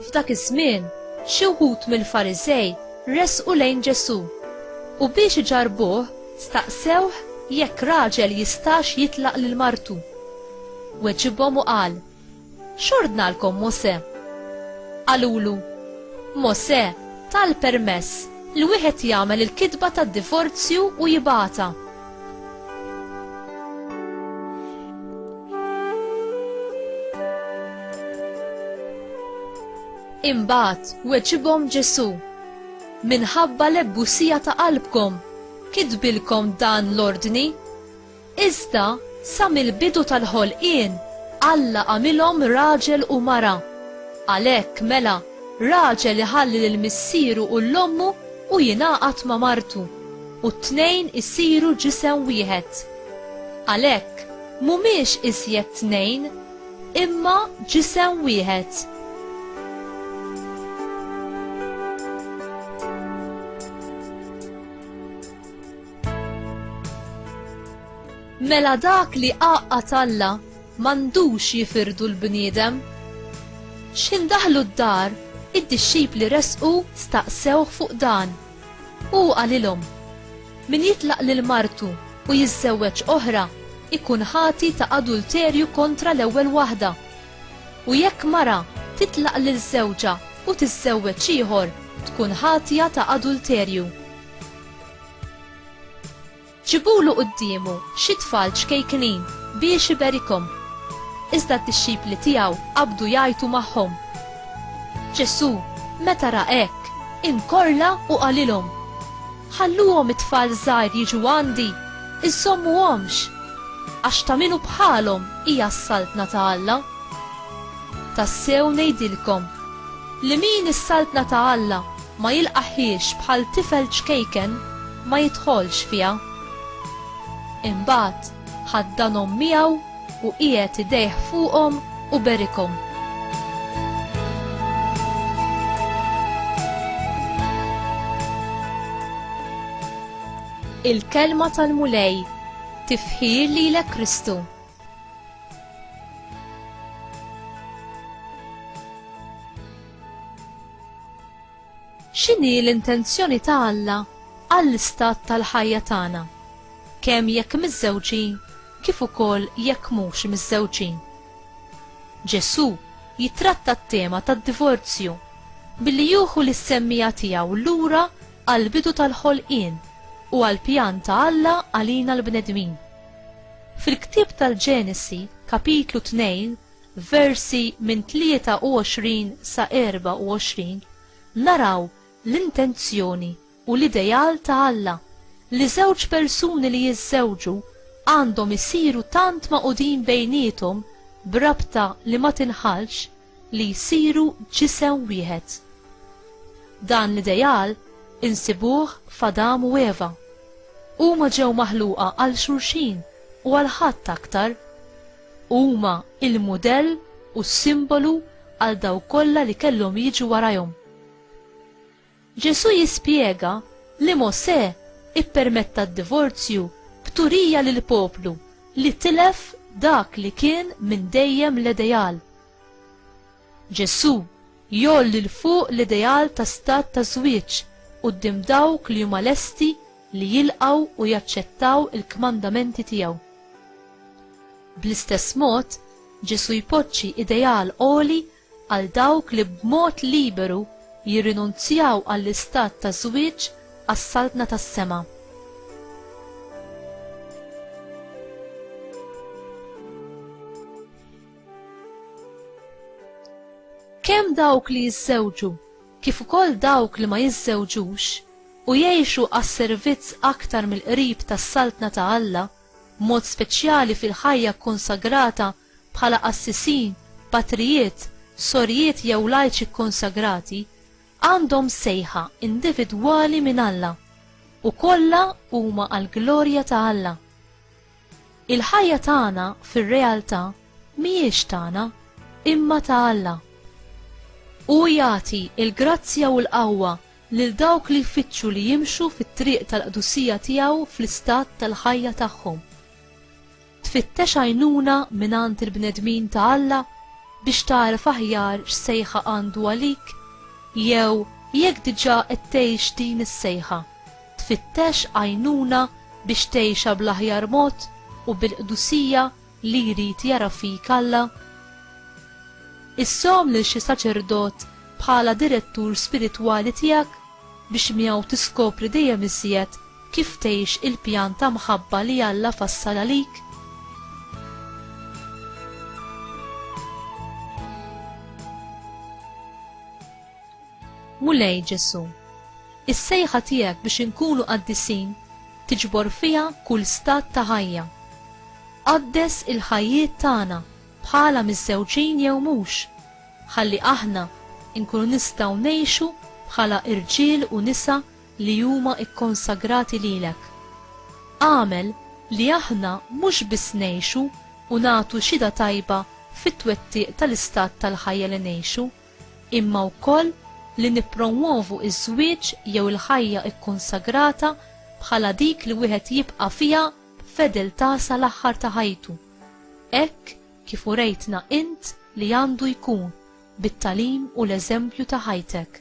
F'dak iż-żmien, xi wħud mill-Farisej resqu lejn Ġesu' u biex iġarbuh staqsewh jekk raġel jistax jitlaq lil martu. Weġibhom u qal, X'ordnalkom Mosè? Qalulu, Mosè ta l-permess li wieħed jagħmel il-kitba tad-divorzju u jibgħatha. Imbagħad weġibhom Ġesù, Minħabba l-ebusija ta' qalbkom kitbilkom dan l-ordni. Iżda, sa mill-bidu tal-ħolqien, Alla għamilhom raġel u mara. Għalhekk, mela, raġel iħalli lil missieru u 'l ommu u jingħaqad ma' martu, u t-tnejn isiru ġisem wieħed. Għalhekk, m'humiex iżjed tnejn, imma ġisem wieħed. Mela dak li qaqqa talla m'għandux jifirdu l-bniedem. X'ħin daħlu d-dar, id-dixxipli resqu staqsewh fuq dan. U qalilhom, Min jitlaq lil martu u jiżżewweġ oħra ikun ħati ta' adulterju kontra l-ewwel waħda. U jekk mara titlaq lil żewġha u tiżżewweġ ieħor, tkun ħatja ta' adulterju. Ġibulu quddiemu xi tfal ċkejknin biex iberikhom. Iżda d-dixxipli tiegħu qabdu jgħajtu magħhom. Ġesù, meta ra hekk, inkorla u qalilhom, Ħalluhom it-tfal żgħir jiġu għandi, iżżommuhomx, għax ta' min hu bħalhom hija s-Saltna ta' Alla. Tassew ngħidilkom, li min is-Saltna ta' Alla ma jilqagħhiex bħal tifel ċkejken ma jidħolx fiha. Imbagħad ħaddanhom miegħu u qiegħed idejh fuqhom u berikhom. Il-Kelma tal-Mulej tifħir lilek Kristu. X'inhi l-intenzjoni ta' Alla għall-istat tal-ħajja tagħna, kemm jekk miżżewġin kif ukoll jekk mhux miżżewġin? Ġesù jittratta t-tema tad-divorzju billi juħu lis-semmiegħa tiegħu lura għall-bidu tal-ħolqien u għall-pjan ta' Alla għalina l-bnedmin. Fil-ktieb tal-Ġenesi, kapitlu 2, f'versi minn 23 sa 24, naraw l-intenzjoni u l-ideal ta' Alla li żewġ persuni li jiżżewġu għandhom isiru tant magħqudin bejniethom b'rabta li ma tinħallx li jsiru ġisem wieħed. Dan l-ideal insibuh f'Adam u Eva. Huma ġew maħluqa għal xulxin u għal ħadd aktar. Huma il-mudell u s-simbolu għal dawk kollha li kellhom jiġu warajhom. Ġesù jispjega li Mosè ippermetta d-divorzju b'turija lill-poplu li tilef dak li kien minn dejjem l-ideal. Ġesù jgħolli 'l fuq l-ideal ta' stat ta' żwieġ quddiem dawk li huma lesti li jilqgħu u jaċċettaw il-kmandamenti tiegħu. Bl-istess mod, Ġesù jpoġġi ideal għoli għal dawk li b'mod liberu jirrinunzjaw għall-istat ta' żwieġ għas-saltna tas-sema. Kemm dawk li jiżżewġu kif ukoll dawk li ma jiżżewġux u jgħixu għas-servizz aktar mill-qrib tas-Saltna ta' Alla, b'mod speċjali fil-ħajja kkonsagrata bħala qassisin, patrijiet, sorjiet jew lajċi kkonsagrati, għandhom sejħa individwali minn Alla, u kollha huma għall-glorja ta' Alla. Il-ħajja tagħna fir-realtà mhijiex tagħna, imma ta' Alla. Hu jagħti l-grazzja u l-qawwa lil dawk li jfittxu li jimxu fit-triq tal-qdusija tiegħu fl-istat tal-ħajja tagħhom. Tfittex għajnuna mingħand il-bnedmin ta' Alla biex tagħref aħjar x'sejħa għandu għalik jew jekk diġà qed tgħix din is-sejħa. tfittex għajnuna biex tgħixha bl-aħjar mod u bil-qdusija li jrid jara fik Alla? Issom lil xi saċerdot bħala direttur spiritwali tiegħek biex miegħu tiskopri dejjem iżjed kif tgħix il-pjan ta' mħabba li Alla fassal għalik? Mulej Ġesù, is-sejħa tiegħek biex inkunu qaddisin tiġbor fiha kull stat ta' ħajja. Qaddes il-ħajjiet tagħna bħala miżżewġin jew mhux, ħalli aħna nkunu nistgħu ngħixu bħala irġiel u nisa li huma kkonsagrati lilek. Agħmel li aħna mhux biss ngħixu u nagħtu xhieda tajba fit-twettiq tal-istat tal-ħajja li ngħixu, imma wkoll li nippromwovu ż-żwieġ jew il-ħajja kkunsagrata bħala dik li wieħed jibqa' fiha b'fedeltà sal-aħħar ta' ħajtu, hekk kif urejtna int li għandu jkun bit-tagħlim u l-eżempju ta' ħajtek.